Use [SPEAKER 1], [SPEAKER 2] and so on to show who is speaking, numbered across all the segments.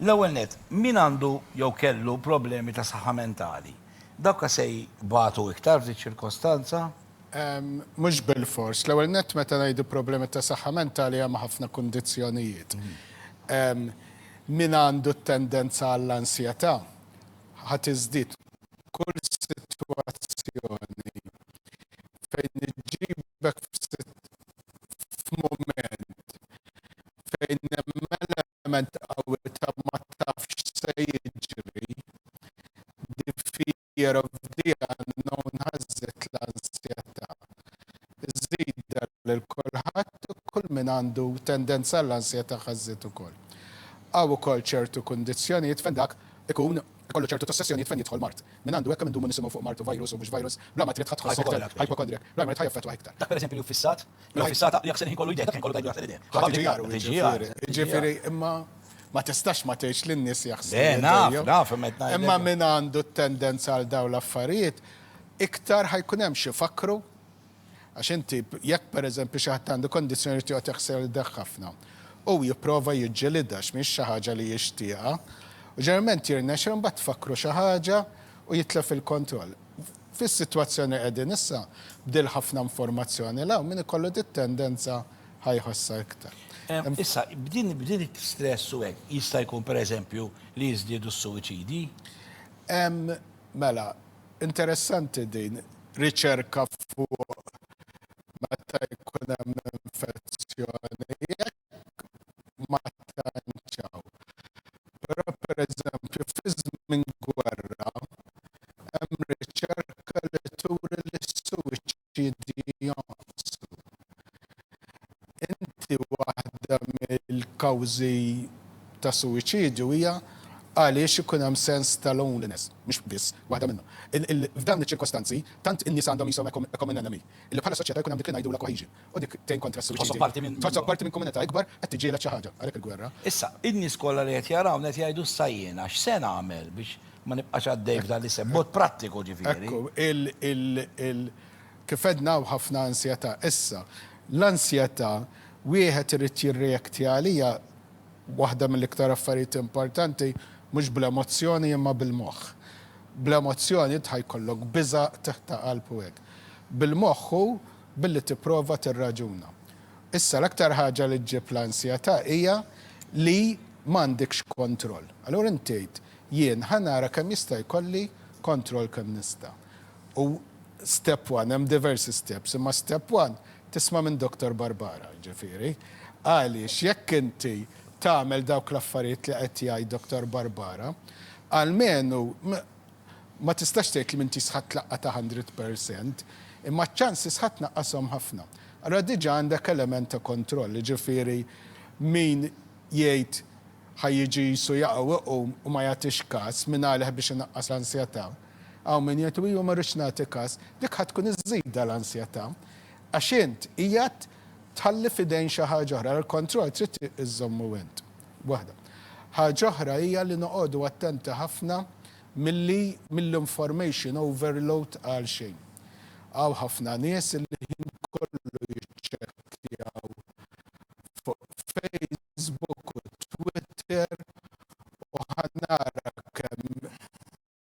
[SPEAKER 1] L-ewwel nett, min għandu jew kellu problemi ta' saħħa mentali? Dawk se jbatu iktar f'di ċ-ċirkostanza?
[SPEAKER 2] Mhux bilfors. L-ewwel nett, meta ngħidu problemi ta' saħħa mentali hemm ħafna kundizzjonijiet. Min għandu t-tendenza għall-ansjetà ħa tiżdied. Kull sitwazzjoni fejn iġġibek f'mument fejn hemm element qawwi ta' ma tafx x'se jiġri, the fear of the unknown ħażżet l-ansjetà. Żżidha lil kulħadd u kull min għandu tendenza għall-ansjetà ħażżet ukoll. Hawn ukoll ċertu kundizzjonijiet fejn dak ikun ikollu ċertu tossessjonijiet fejn jidħol mard. Min għandu hekk kemm indumu nisimgħu fuq mard u virus u mhux virus, bla ma trid ħadd tħossok tajjeb, hypochondriac, l-armar tħaj jaffettwah iktar. Dak pereżempju li hu ffissat
[SPEAKER 1] Mela fissata li jekk se nħikollu idea, dak inkollu tajdu jaħsel idea. Ħadd iġijaru, iġifieri. Iġifieri,
[SPEAKER 2] imma ma tistax ma tgħidx li n-nies jaħsbu. Le, naf, naf, imma qed
[SPEAKER 1] ngħidlek. Imma min
[SPEAKER 2] għandu t-tendenza għal dawn l-affarijiet, iktar ħa jkun hemm x'ifakkru, għax inti jekk pereżempju xi ħadd għandu kondizzjoni li joqgħod jaħsel idejh ħafna, hu jipprova jiġġilidha għax mhix xi ħaġa li jixtieqha, u ġeneralment jirnexxilhom imbagħad tfakkru xi ħaġa u jitlef il-kontroll. Fis-sitwazzjoni qegħdin issa, b'dil ħafna informazzjoni 'l hawn, min ikollu dit-tendenza ħa jħossha iktar. Issa,
[SPEAKER 1] b'din b'din it-stress u hekk, jista' jkun pereżempju li jiżdiedu s-suwiċidji?
[SPEAKER 2] Mela, interessanti din, riċerka fuq meta jkun hemm infezzjoni, jekk ma tantx hawn. Però pereżempju fi żmien gwerra hemm riċerka li turi li s-suwiċidji jonqsu. Inti waħda mill-kawżi ta' suwiċidju hija għaliex ikun hemm sens ta' loneliness, mhux biss waħda minnhom. F'dawn iċ-ċirkostanzi tant in-nisa għandhom qishom a common enemy, li bħala soċjetà jkun hemm dik li ngħidulha cohesion. u dik tgħin kontra s-suwiċidju. Tħossok parti minn. Tħossok parti minn komunità ikbar, qed tiġġieled xi ħaġa, għalhekk il-gwerra. Issa, in-nies kollha
[SPEAKER 1] li qed jarawna qed jgħidu issa jiena x'se nagħmel biex ma nibqax għaddej f'dan l-isem, b'mod prattiku ġifieri. Ekku, il, il,
[SPEAKER 2] il, kif għedna hawn ħafna ansjetà. Issa, l-ansjetà wieħed irid jirreaktja għaliha, waħda mill-iktar affarijiet importanti, mhux bl-emozzjoni imma bil-moħħ. Bl-emozzjoni int ħa jkollok biża', qtigħ ta' qalb u hekk. Bil-moħħ hu billi tipprova tirraġuna. Issa l-aktar ħaġa li ġġib l-ansjetà hija li m'għandekx kontroll. Allura int tgħid, jien ħa nara kemm jista' jkolli kontroll kemm nista'. U step one, hemm diversi steps, imma step one tisma' minn Doctor Barbara, jiġifieri. Għaliex jekk inti tagħmel dawk l-affarijiet li qed jgħid Doctor Barbara, almenu Ma tistax tgħid li m'intix sħaqt l-laqgħa ta' hundred per cent, imma ċ-ċans li sħaqt naqqashom ħafna. Allura diġà għandek element ta' kontroll, jiġifieri min jgħid ħa jiġi qisu jaqa' u jqum u ma jagħtix kas mingħalih biex inaqqas l-ansjetà. Hawn min jgħid u jien ma rridx nagħti kas. Dik ħa tkun iżżidha l-ansjetà għax int qiegħed tħalli f'idejn xi ħaġa oħra. Il-kontroll trid iżżommu int. waħda. Ħaġa oħra hija li noqogħdu attenti ħafna milli mill-information overload għalxejn. Hawn ħafna nies li l-ħin kollu jiċċekkjaw fuq Facebook u Twitter u ħa nara kemm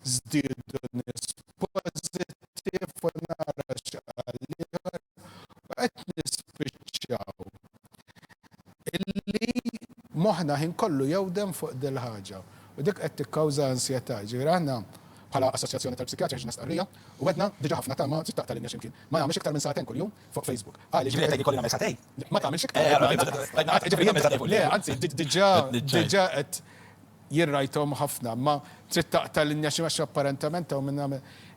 [SPEAKER 2] Żdiedu nies pożittiv u nara x'qal l-ieħor u qed nispiċċaw illi moħħna ħin kollu jewdem fuq dil-ħaġa u dik qed tikkawża ansjetà. Jiġifieri aħna bħala Assoċjazzjoni tal-Psikjatri ħriġna stqarrija u għedna diġà ħafna ta' ma trid taqta' linja x'imkien. Ma tagħmilx iktar minn sagħtejn kuljum fuq Facebook. Għaliex? Jiġifieri qed tgħid li jkolli nagħmel
[SPEAKER 1] sagħtejn? Le, ma tagħmilx iktar.
[SPEAKER 2] Jiġifieri jagħmel sagħtejn fuq Le, anzi, diġà qed. Jien rajthom ħafna imma trid taqta' linja xi għax apparentament hawn minn hawn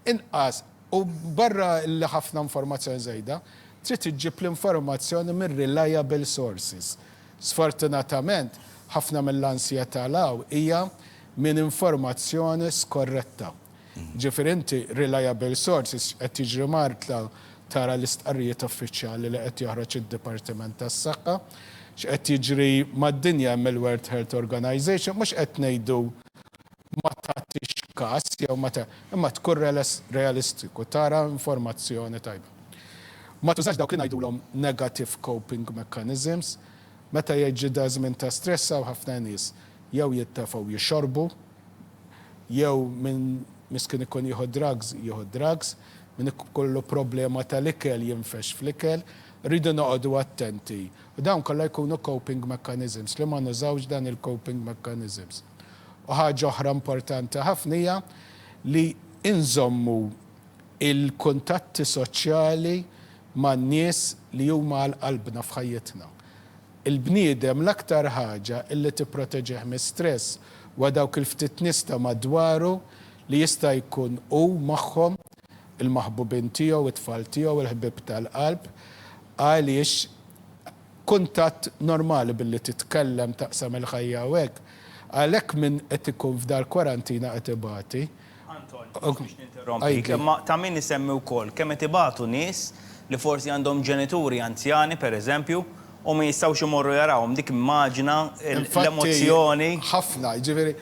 [SPEAKER 2] inqas u barra li ħafna informazzjoni żejda, trid iġġib l-informazzjoni minn reliable sources. Sfortunatament, ħafna mill-ansjetà l-hawn hija minn informazzjoni skorretta. Ġifieri inti reliable sources qed tiġri Martla tara l-istqarrijiet uffiċjali li qed joħroġ id-Dipartiment tas-Saħħa. X'qed jiġri mad-dinja hemm il-World Health Organization, mhux qed ngħidu ma tagħtix kas jew ma ta', imma tkun realistiku, tara informazzjoni tajba. Ma tużax dawk li ngħidulhom negative coping mechanisms. Meta jiġi da' żmien ta' stress hawn ħafna nies jew jittefgħu jixorbu, jew min miskin ikun jieħu drugs, jieħu drugs, min ikollu problema tal-ikel jinfexx fl-ikel. Irridu noqogħdu attenti. U dawn kollha jkunu coping mechanisms, li ma nużawx dan il-coping mechanisms. U ħaġa oħra importanti ħafna hija li inżommu l-kuntatti soċjali man-nies li huma għal qalbna f'ħajjitna. Il-bniedem l-aktar ħaġa li tipproteġih mis-stress huwa dawk il-ftit nies ta' madwaru li jista' jkun hu magħhom, il-maħbubin tiegħu, it-tfal tiegħu, il-ħbieb tal-qalb, għaliex kuntatt normali billi titkellem, taqsam il-ħajja u hekk. Għalhekk min qed ikun f'dar kwarantina qed ibati. Anton, mhux biex
[SPEAKER 3] ninterrompik, imma ta' min isemmi wkoll kemm qed ibatu nies li forsi għandhom ġenituri anzjani, pereżempju, u ma jistgħux imorru jarawhom. Dik immaġina l-emozzjoni. Infatti, ħafna,
[SPEAKER 2] jiġifieri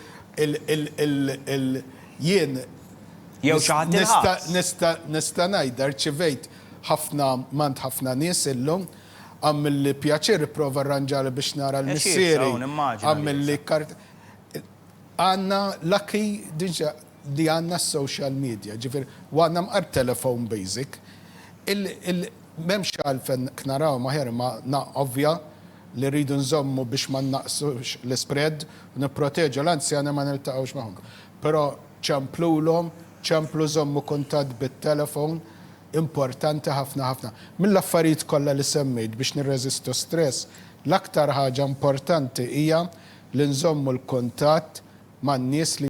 [SPEAKER 2] jien
[SPEAKER 3] nista' nista'
[SPEAKER 2] ngħidha rċivejt ħafna m'għand ħafna nies illum, għamilli pjaċir, ipprova rranġali biex nara l-missieri, għamilli kart. Għandna lucky diġà li għandna s-social media, ġifieri, u għandna mqar telephone basic. Il, il, m'hemmx għalfejn knarawhom aħjar imma na, ovvja li rridu nżommu biex ma nnaqqsux l-ispread u nipproteġu l-anzjani ma niltaqgħux magħhom. Però ċemplulhom, ċemplu żommu kuntatt bit-telephone, importanti ħafna ħafna. Mill-affarijiet kollha li semmejt biex nirreżistu stress, L-aktar ħaġa importanti hija li nżommu l-kuntatt man-nies li.